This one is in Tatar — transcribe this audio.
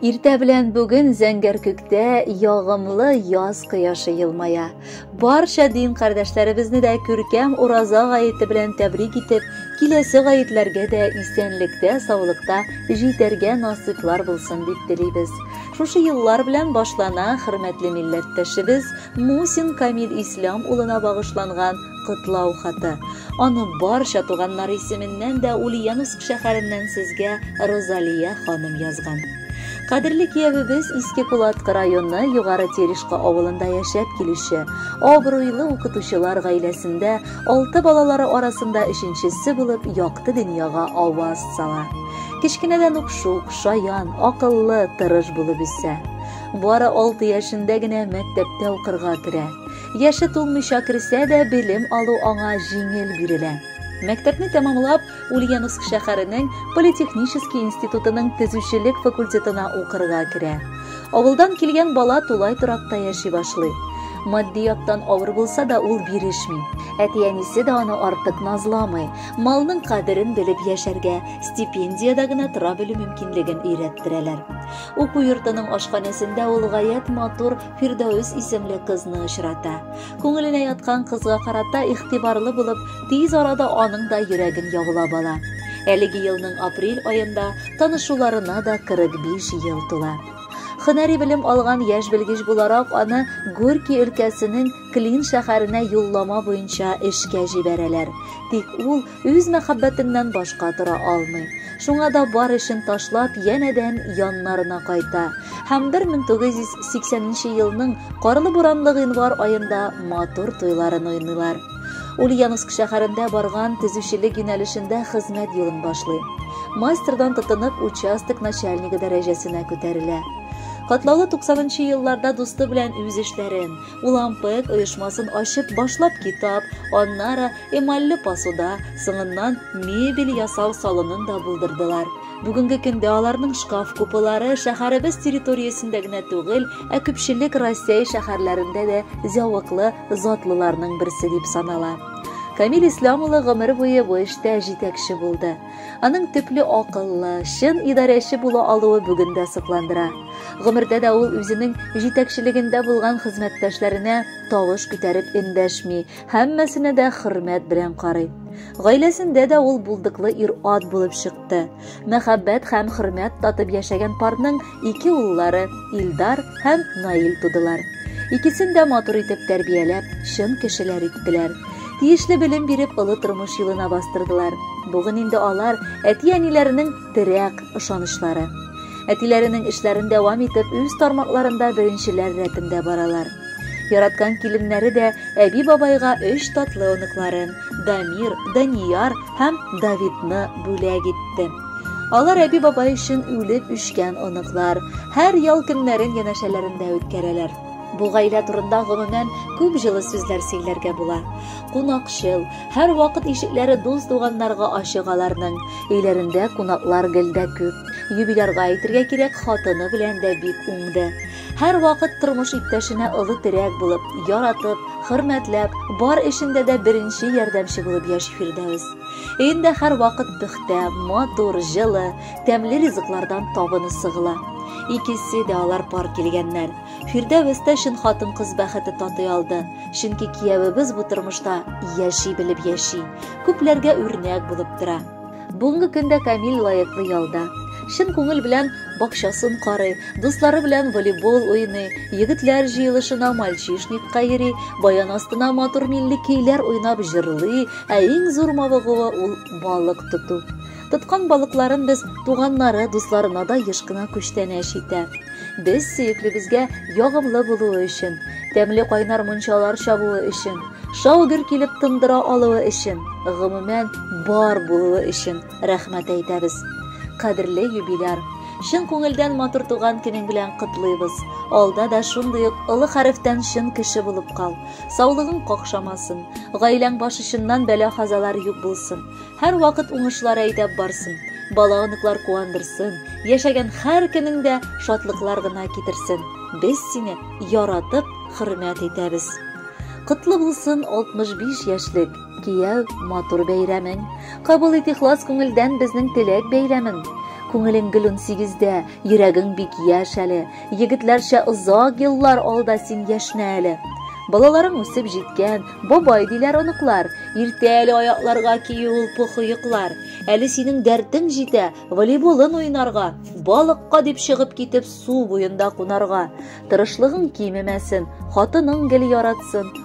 Иртә белән бүген зәңгәр күктә ягымлы яз кояшы елмая. Барча дин кардәшләребезне дә күркәм Ураза гаете белән тәбрик итеп, киләсе гаетләргә дә исәнлектә, саулыкта җитәргә насыйплар булсын дип телибез. Шушы еллар белән башлана хөрмәтле милләттәшебез Мусин Камил Ислам улына багышланган Котлау хаты. Аны барча туганнары исеменнән дә Ульяновск шәһәреннән сезгә Розалия ханым язган. Кадерле киявебез Иске Кулаткы районы Югары Терешка авылында яшәп килүче, абруйлы укытучылар гаиләсендә алты балалары арасында өченчесе булып якты дөньяга аваз сала. Кечкенәдән ук шук, шаян, акыллы, тырыш булып үсә. Бары алты яшендә генә мәктәптә укырга керә. Яше тулмыйча керсә дә, белем алу аңа җиңел бирелә. Мәктәпне тәмамлап, Ульяновск шәһәренең политехнический институтының төзүчелек факультетына укырга керә. Авылдан килгән бала тулай торакта яши башлый. Матди яктан авыр булса да, ул бирешми. Әти-әнисе дә аны артык назламый. Малның кадерен белеп яшәргә, стипендиядә генә тора белү мөмкинлеген өйрәттерәләр. Уку йортының ашханәсендә ул гаять матур Фирдәүс исемле кызны очрата. Күңеленә яткан кызга карата игътибарлы булып, тиз арада аның да йөрәген яулап ала. Әлеге елның апрель аенда танышуларына да 45 ел тула. Хөнәри белем алган яшь белгеч буларак аны Горький өлкәсенең Клин шәһәренә юллама буенча эшкә җибәрәләр. Тик ул Үз мәхәббәтеннән башка тора алмый. Шуңа да бар эшен ташлап, янәдән яннарына кайта һәм 1980 нче елның карлы-буранлы гыйнвар аенда матур туйларын уйныйлар. Ульяновск шәһәрендә барган төзүчелек юнәлешендә хезмәт юлын башлый. Мастердан тотынып, участок начальнигы дәрәҗәсенә күтәрелә. Катлаулы 90 нчы елларда дусты белән үз эшләрен, Улампык оешмасын ачып башлап китап, аннары эмалле посуда, соңыннан мебель ясау салонын да булдырдылар. Бүгенге көндә аларның шкаф купылары шәһәребез территориясендә генә түгел, ә күпчелек Россия шәһәрләрендә дә зәвыклы затлыларның берсе дип санала. Камил Ислам улы гомер буе бу эштә җитәкче булды. Аның төпле акыллы, чын идарәче була алуы бүген дә сокландыра. Гомердә дә ул үзенең җитәкчелегендә булган хезмәттәшләренә тавыш күтәреп эндәшми, һәммәсенә дә хөрмәт белән карый. Гаиләсендә дә ул булдыклы ир-ат булып чыкты. Мәхәббәт һәм хөрмәт татып яшәгән парның Ике уллары Илдар һәм Наил тудылар. Икесен дә матур итеп тәрбияләп, чын кешеләр иттеләр. Тиешле белем биреп, олы тормыш юлына бастырдылар. Бүген инде алар әти-әниләренең терәк ышанычлары. Әтиләренең эшләрен дәвам итеп, үз тармакларында беренчеләр рәтендә баралар. Яраткан киленнәре дә әби бабайга өч татлы оныкларын Дамир, Данияр һәм Давидны бүләк итте. Алар әби-бабай өчен үлеп үшкән оныклар. Һәр ял көннәрен янәшәләрендә үткәрәләр. Бу гаилә турында гомумән күп җылы сүзләр сөйләргә була. Кунакчыл, һәр вакыт ишекләре дус туганнарга ачык аларның. Өйләрендә кунаклар гел дә күп. Юбилярга әйтергә кирәк, хатыны белән дә бик уңды. Һәр вакыт тормыш иптәшенә олы терәк булып, яратып, хөрмәтләп, бар эшендә дә беренче ярдәмче булып яши Фирдәвес. Өендә һәрвакыт пөхтә, матур, җылы, тәмле ризыклардан табыны сыгыла. Икесе дә алар пар килгәннәр. Фирдәвестә чын хатын-кыз бәхете татый алды, чөнки киявебез бу тормышта яши белеп яши, күпләргә үрнәк булып тора. Бүгенге көндә Камил лаеклы ялда. Чын күңел белән бакчасын карый, дуслары белән волейбол уйный, егетләр җыелышына мальчишникка йөри, баян астына матур милли көйләр уйнап җырлый, Ә иң зур мавыгуы ул балык тоту. Тоткан балыкларын без туганнары, дусларына да еш кына күчтәнәч итә. Без сөеклебезгә ягымлы булуы өчен, тәмле кайнар мунчалар чабуы өчен, шау гөр килеп тындыра алуы өчен, гомумән, бар булуы өчен рәхмәт әйтәбез. Кадерле юбиляр, чын күңелдән матур туган көнең белән котлыйбыз. Алда да шундый ук олы хәрефтән чын кеше булып кал. Саулыгың какшамасын, гаиләң баш очыннан бәла-казалар юк булсын. Һәрвакыт уңышлар әйдәп барсын. Бала-оныклар куандырсын. Яшәгән һәр көнең дә шатлыклар гына китерсен. Без сине яратып, хөрмәт итәбез. Котлы булсын 65 яшьлек кияү матур бәйрәмең. Кабул ит ихлас күңелдән безнең теләк бәйләмен. Күңелең гөл 18 дә, йөрәгең бик яшь әле. Егетләрчә озак еллар алда син яшнә әле. Балаларың үсеп җиткән, бабай диләр оныклар. Иртә әле аякларга кию ул похыеклар. Әле синең дәртең җитә, волейболын уйнарга, балыкка дип чыгып китеп су буенда кунарга. Тырышлыгың кимемәсен, хатының гел яратсын,